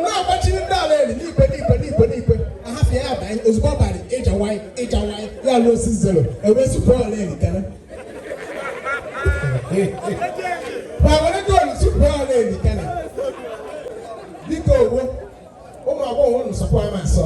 na-agbachiri ndị ala eri n'ipe n'ipe n'ipe n'ipe ahafịa ya banye ozugbo ọ bara ịja nwanyị ịja nwanyị ya lụọ six zero ewezụpụ ọla eri kere ma were goolu tupu ọla eri kere dịka owo ụmụ agbọghọ unu sọkwa ama asọ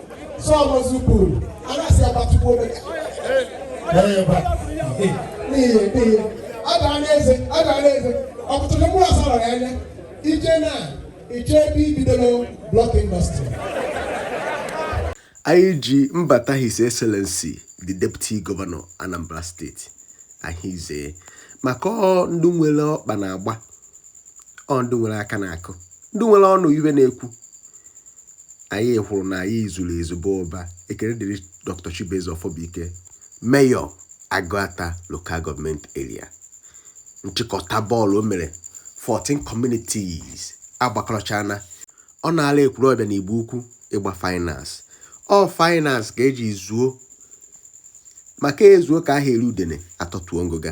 anyị ji mbata his excellency the deputy governor anambra state ahize maka ndị nwere ọkpa na-agba ọ ndị nwere aka na-akụ ndị nwere ọnụ iwe na-ekwu Anyị hụrụ na anyị zuru ezu baa ụba. Ekele dịrị Dr. Chibueze Ọfọbụike, Mayor Agụata Local Government Area. Nchịkọta bọọlụ o mere 14 communities agbakọrọchana. Ọ na-ala Ekwulọbịa na Igbo Ukwu ịgba finals. Ọ finals ka eji zuo maka ezuo ka a ha eri udene atọtuo ngụga.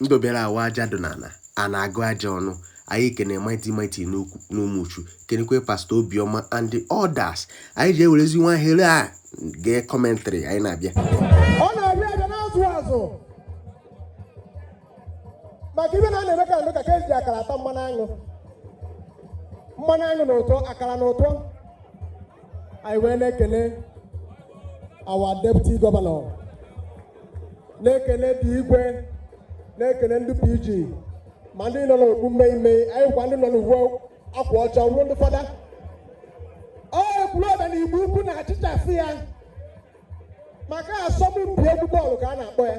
ndụ bịara awa aja dị n'ala a na-agụ aja ọnụ anyị ekene mighty mighty n'umuchu kenekwe pastọ obiọma and the others anyị ji ewerezi nwa ohere a gee commentary anyị na-abịa ọ na-abịa abịa na-azụ azụ maka ibe na a na-eme ka ndụ ka ka eji akara ata mmanụ aṅụ mmanụ aṅụ na ụtọ akara na ụtọ anyị wee na-ekene our deputy governor na-ekene ndị igwe na-ekene ndị PG ma ndị nọ n'okpu mmemme anyị kwa ndị nọ n'uwe akwa ọcha ruo ndị fada ọ Ekwulọbịa na igbo ukwu na-achịchasị ya maka asọmpi egwu bọọlụ ka a na-akpọ ya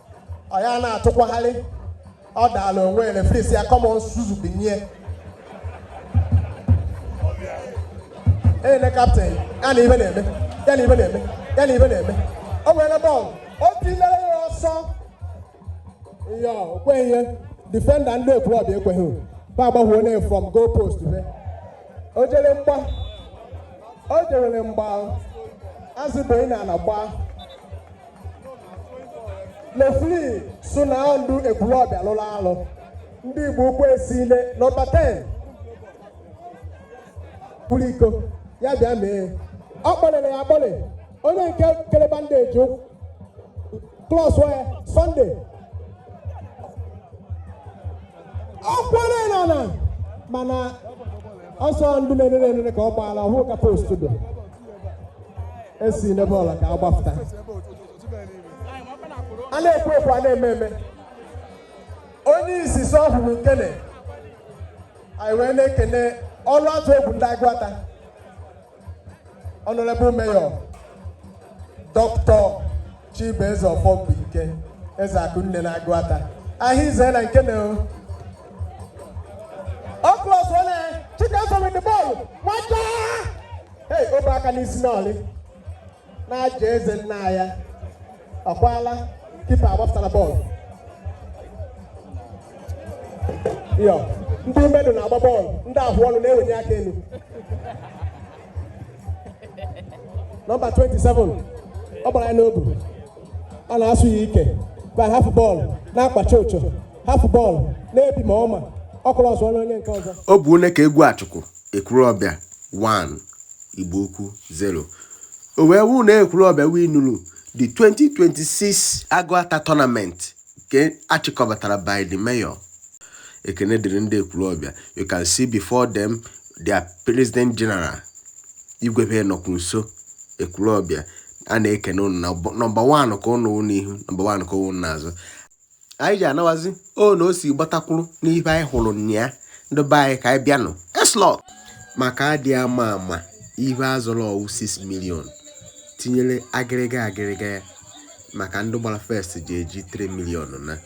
ọ ya na-atụkwagharị ọ daala onwe ya refri si ya come on suzu binie ele captain ya na ibe na-eme ya na ibe na-eme ya na ibe na-eme o nwere bọọlụ o tilere ya ọsọ ya o kweghị ihe defender ndị Ekwulọbịa ekweghị ba agbaghị onye from goal post be o jere mgba o jere mgba azụ ebeghị n'ana gbaa Refri sị na ndụ Ekwulọbịa lụrụ alụ ndị Igbo ukwu esile nọmba 10 pụrụ iko ya bịa mee ọ kpọlere ya akpọle onye nke kere bandage klọs wee Sunday ọ kwere na na mana ọsọ ndụ na-enene enene ka ọ gbaala ọ hụ ka post dị esi n'ebe ọla ka agbapụta a na-ekwu ekwu a na-eme eme onye isi so ọhụrụ nkene anyị wee na-ekene ọrụ atụ egwu ndị Agụata Honourable Mayor Doctor Chibueze Ọfọbụike eze Akụnne na Agụata ahịa ize na nke na ọkụlọs onye Chikamso with the ball nwata hey obe aka n'isi n'ọlị na-aja eze nna ya ọkwala kipa agbapụtara bọọlụ yo ndị mmadụ na-agba bọọlụ ndị ahụ ọnụ na-ewenye aka elu nọmba 27 ọ gbara ya n'obu a na-asụ ya ike ba hafụ bọọlụ na-akpacha ocho hafụ bọọlụ na-ebi ma ọma ọ kụrụ ọzọ onye nke ọzọ ọ bụ onye ka egwu achụkụ Ekwulọbịa 1 Igbo Ukwu 0 o wee wụ na Ekwulọbịa winuru the 2026 Agụata tournament nke a chịkọbatara by the mayor ekene dịrị ndị Ekwulọbịa you can see before them their president general igwebe nọkwu nso Ekwulọbịa a na-ekene ụnụ na nọmba wan ka ụnụ wụ n'ihu nọmba wan ka ụnụ n'azụ anyị ji anawazi o na o si gbatakwuru n'ibe anyị hụrụ n'anya ndị be anyị ka anyị bịanụ eslọt maka adị ama ama ihe a zọrọ ọ wụ 6 million tinyere agịrịga agịrịga ya maka ndị gbara first ji eji 3 million na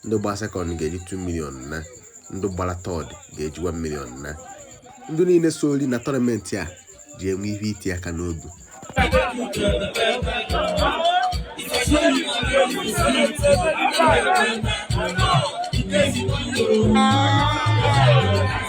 ndị gbara second ga-eji 2 million na ndị gbara third ga-eji 1 million na ndị niile soro na tournament a ji enwe ihe iti aka n'obi Thank you.